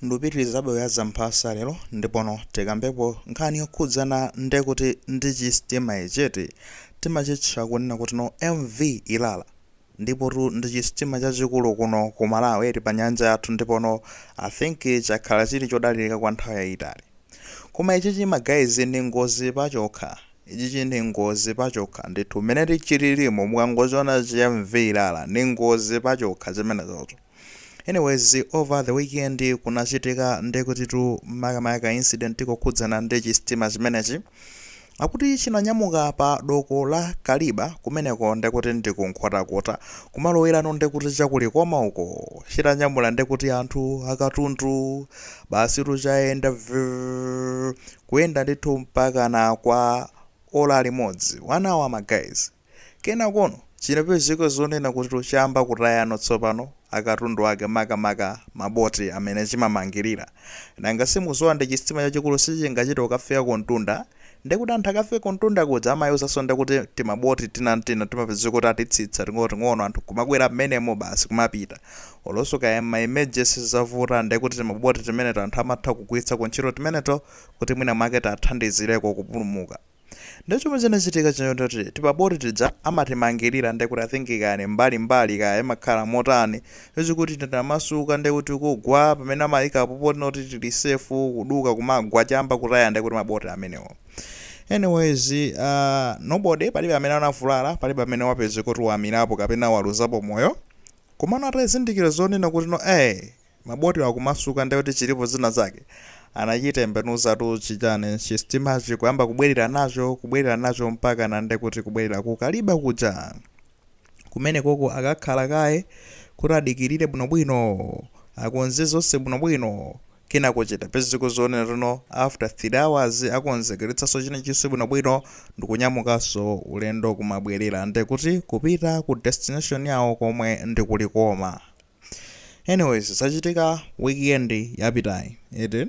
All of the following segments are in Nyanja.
Ndupitilizabe kuyala mphasa lero ndipono tikambepo nkhani yokhudzana ndekuti ndi chisitima ichiti timachitcha kunena kuti no MV Ilala ndipotu ndi chisitima chachikulu kuno ku Malawi eti pa nyanja yathu ndipono I think chakhala chili chodalilika kwa nthawi yayitali koma ichichi ma guys ndi ngozi pachokha ichichi ndi ngozi pachokha ndithu mmene chililimu mukangochiona chi MV Ilala ndi ngozi pachokha chimenechocho. Anyways over the weekend kunachitika ndekutitu makamaka ka incident kokhudzana ndi chisitima chimenechi akuti chinanyamuka pa doko la Kaliba kumeneko ndekuti ndi ku Nkhotakota kumalowelano ndekuti chakulikoma uko chitanyamula ndekuti anthu akatundu basi chayenda vrrrr, kuyenda ndithu mpakana kwa ola limodzi one hour ma guys. Kenakono chinapezeka zonena kutino chayamba kutayano tsopano akatundu ake maka maka ma boti amene chimamangilira. Nanga mukudziwa ndi chisitima chachikulu sichingachite kukafika kumtunda ndekuti anthu akafike kumtunda kuja amayuzanso ndekuti tima boti tinatina timapezeka kuti atitsitsa ting'ono ting'ono anthu nkumakwera mmenemo basi kumapita. Olonso kaya mma emergency zavuta ndekuti tima boti timeneto anthu amatha kugwiritsako ntchito timeneto kuti mwina mwake tiathandizireko kupulumuka. Nde chomwe chinachitika choti timaboti tija amatimangilira nde kuti I think kaya ni mbali mbali kaya imakhala motani chochi kuti tinamasuka nde kuti kugwa pamene amayikapo potino tili safe kuduka kumagwa chamba kutaya nde kuti maboti amenewo anyways uh, nobody palibe amene anavulala palibe amene wapezeka kuti wamirapo kapena waluzapo moyo komano atazindikira zonena kuti no eh Maboti akumasuka ndiye kuti chilipo zina zake anachitembenuzatu chitani chisitimachi kuyamba kubwerera nacho kubwerera nacho mpakana ndiye kuti kubwerera ku Kaliba kuja. Kumenekoko akakhala kaye kuti adikirire bwinobwino, akonze zonse bwinobwino. Kenako chitapezeka zonena kutino after 3 hours akonzekeretsanso chinachonse bwinobwino ndikunyamukanso ulendo kumabwerera ndiye kuti kupita ku destination yawo komwe ndi ku Likoma. anyways zachitika weekend yapitayi eti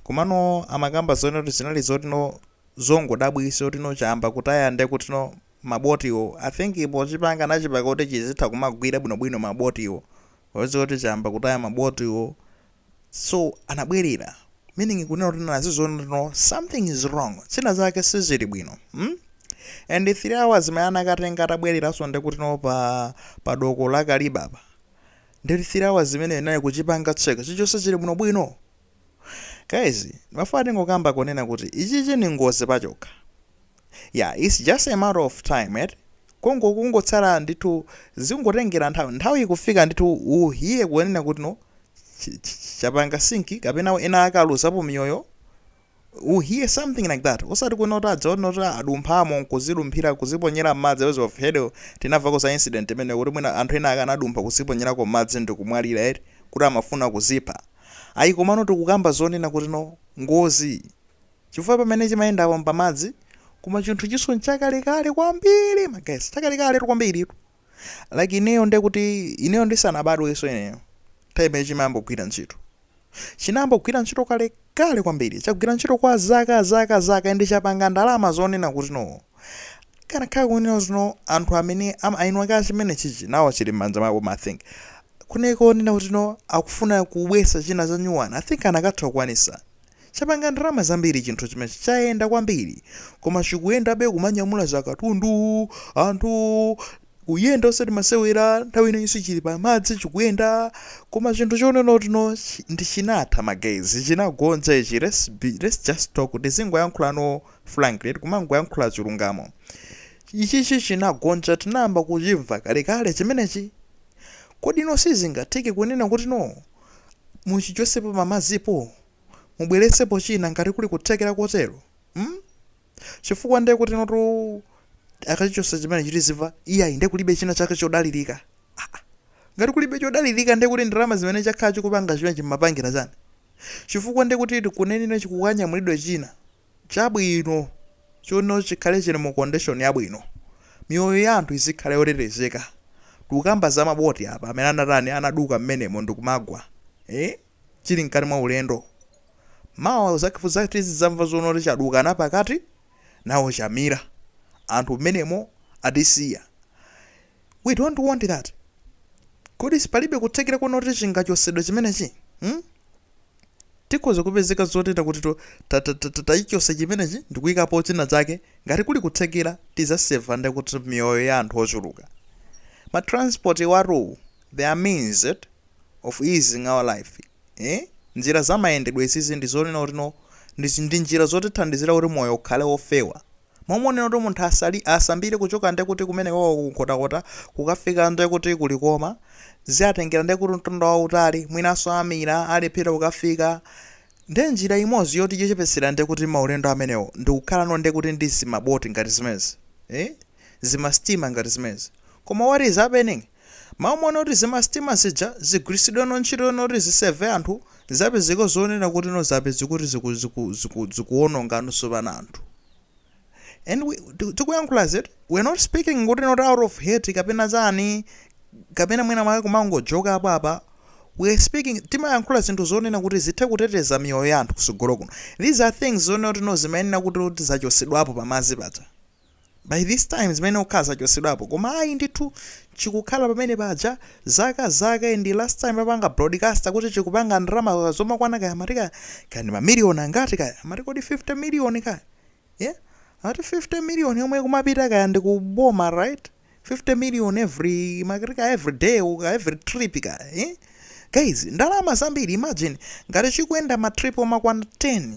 komano amakamba zonena kuti zinali zotino zongodabwisa otino chamba kutaya nde kutino mabotiwo i think pochipanga anachipanga kuti chizitha kumagwira bwinobwino mabotiwo ozi kuti chamba kutaya mabotiwo so anabwerera meaning kunena kuti anaona zotino something is wrong zina zake sizili bwino hmm? and 3 hours imene anakatenga atabwereranso ndekuti no pa pa doko la kaliba apa ndi 3 hours imeneyo inali kuchipanga check chilichonse chili bwino bwino guys ndimafuna tingokamba kunena kuti ichichi ni ngozi pachokha Yeah it's just a matter of time eti Congo kungotsala ndithu zingotengera nthawi nthawi ikufika ndithu you hear kunena kuti no ch- ch- chapanga sinki kapena ena akaluzapo miyoyo you hear something like that osati kunena kuti adzaona kuti adumphamo nkuzidumphira kuziponyera m'madzi I haven't heard sitinamveko za incident imene kuti mwina anthu ena akanadumpha kuziponyerako m'madzi ndikumwalira eti kuti amafuna kuzipha ayi komano tikukamba zonena kuti no ngozi Chifukwa pamene chimayendapo mpamadzi, koma chinthu chinso nchakale kale kwambiri ma guys chakale kale tu kwambiri tu like ineyo nde kuti ineyo ndisanabadweso ineyo time ya chimayamba kugwira ntchito chinayamba kugwira ntchito kale kale kwambiri chagwira ntchito kwa zaka zaka zaka ndi chapanga ndalama zonena kuti no kanakhala kunena kuti no anthu amene am- eni ake a chimenechichi nawo chili m'manja mwawo I think kuneko kunena kuti no akufuna kubwesa china cha nyuwani i think akanatha kukwanisa Chapanga ndalama zambiri chinthu chimechi. Chayenda kwambiri. Koma chikuyendabe kumanyamula akatundu, anthu, kuyenda osati masewera, nthawi ino yonse chili pa madzi chikuyenda. Koma chinthu chonena kuti no chi ndi chinatha ma guys. Chinagonja ichi. Let's be, let's just talk. Tizingoyankhula no frankly, kumangoyankhula chilungamo. Ichichi chinagonja tinayamba kuchimva kalekale chimenechi. Kodi no sizingatheke kunena kuti no. Muchichotsepo pamadzipo, mubweretsepo china ngati kuli kuthekera kotero. Hmm? Chifukwa ndiye kutinotu akachichotsa chimenechi tizimva, iyayi ndiye kulibe china chake chodalirika. Aa! Ngati kulibe chodalirika ndiye kuti ndalama zimene chakhala chikupanga chimenechi mumapangira chani? Chifukwa ndiye kuti kunena chikukanyamulidwe china. Chabwino, chonwe chikhale chiri mu condition yabwino. Miyoyo ya anthu izikhale yotetezeka. Tikukamba za ma boti apa amene anatani, anaduka m'menemo ndikumagwa, eh, chiri mkati mwa ulendo. Mawa lakucha tizidzamva zoti chaduka napakati, nawo chamira. Anthu m'menemo atisiya. we don't want that kodi palibe kuthekera kunena kuti chingachosedwe chimenechi hmm? tikhoza kupezeka zoti kuti to- ta- ta- ta- ta- tachichosa chimenechi ndikuyikapo china chake ngati kuli kuthekera tizaseva ndi kuti miyoyo ya anthu ochuluka ma transport awatu they are means of easing our life eh? njira za mayendedwe izizi ndi zonena kuti no ndi ndi njira zotithandizira kuti moyo ukhale wofewa Momwe unene kuti munthu asali, asambire kuchoka ndiye kuti kumene kwawo ku Nkhotakota kukafika ndiye kuti ku Likoma ziatengera ndiye kuti mtunda wautali, mwinanso amira alephera kukafika. Ndiye njira imodzi yoti yochepetsera ndiye kuti maulendo amenewo ndi kukhala no ndiye kuti ndi zimaboti ngati zimenezi, eh, zimastima ngati zimenezi. Koma what is happening? Mau mumaona kuti zimasitima zija zigwiritsidwe ntchito zonena kuti zi save anthu zapezeka zonena kuti no zapezeka kuti ziku ziku ziku zikuononga ndi kupha anthu and we tikuyankhula izi we're not speaking kuti not out of hate kapena chani kapena mwina mwake kumangojoka apa apa we are speaking timayankhula zinthu zonena kuti zithe kuteteza miyoyo ya anthu kusogolo kuno these are things zonena kuti no zimayenera kuti kuti zachosedwapo pamazi paja by this time zimayenera kukhala zachosedwapo koma ayi ndithu chikukhala pamene paja zaka zaka and last time apanga broadcaster kuti chikupanga ndalama zomakwana kaya amati kaya kaya ndi mamiliyoni angati kaya amati kodi 50 miliyoni kaya yeah? ati 50 miliyoni yomwe kumapita kaya ndi kuboma right 50 million every makati kaya every day or every trip kaya eh? guys ndalama zambiri imagine ngati chikuyenda matrip omakwana 10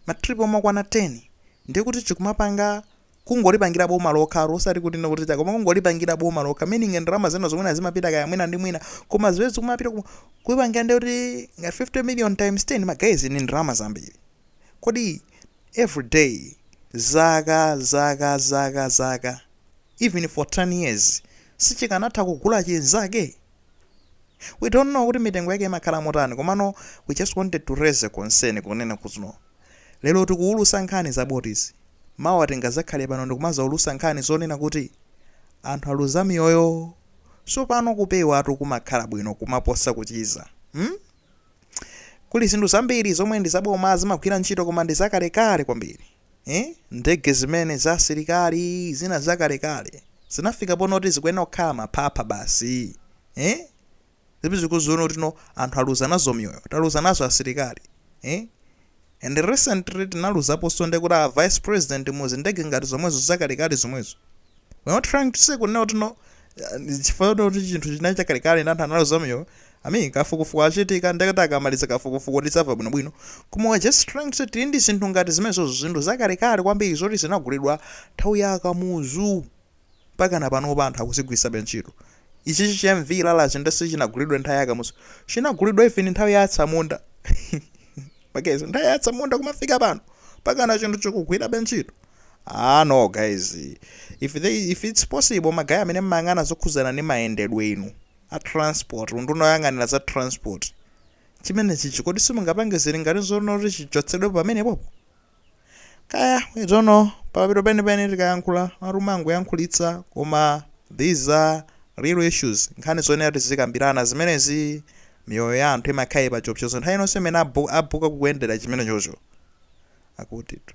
matrip omakwana 10 ndiye kuti chikumapanga kungolipangila boma lokha osati kuti ndikuti koma kungolipangila boma lokha meaning ndalama zinazo zomwe zimapita kaya mwina ndi mwina koma ziwezi zikumapita ku- kuipangila ndiye kuti ngati 50 million times 10 guys ni ndalama zambiri kodi every day zaka zaka zaka zaka even for 10 years sichikanatha kugula chinzake we don't know kuti mitengo yake imakhala motani komano we just wanted to raise a concern kunena kuti no lero tikuwulusa nkhani za boats mawa tingazakhale pano ndikumazawulusa nkhani zonena kuti anthu aluza miyoyo so pano kupewatu kumakhala bwino kumaposa kuchiza hmm? kuli zinthu zambiri zomwe ndi zaboma zimagwira ntchito koma ndi zakalekale kwambiri Eee ndege zimene za asilikali zina zakalekale zinafika ponena kuti zikuyenera kukhala maphapha basi eh? timaziona kuti no anthu aluza nazo miyoyo taluza nazo asilikali eh? and recently tinaluzaponso ndi kuti a vice president muzindege ngati zomwezo zakalekale zomwezo We're not trying to say kunena kuti no eh, chifukwa choti kuti chinthu chinali chakalekale ndi anthu analuza miyoyo I mean kafukufuku achitika nde kuti akamaliza kafukufuku tidzamva bwinobwino koma we're just trying to say tili ndi zinthu ngati zimenezo zinthu zakalekale kwambiri zoti zinagulidwa nthawi ya a Kamuzu mpakana panopa anthu akuzigwiritsabe ntchito ichichi cha MV Ilala ichi nde sichinagulidwa nthawi ya a Kamuzu chinagulidwa even nthawi ya atsamunda ma guys nthawi ya atsamunda kumafika pano mpakana chinthu chikugwirabe ntchito ah no guys if, they, if it's possible magaya amene mmayang'ana zokhudzana ndi mayendedwe inu a transport unduna woyang'anira za transport chimenechichi kodi simungapange zili ngati zonena kuti chichotsedwepo pamenepopo Kaya, we don't know, pamapeto penipeni tikayankhula mumati timangoyankhulitsa koma these are real issues, nkhani zoyenera tizikambirana zimenezi, miyoyo ya anthu imakhala ili pachiopsezo nthawi iliyonse imene akukwera kuyendera chimenechocho. Akutitu.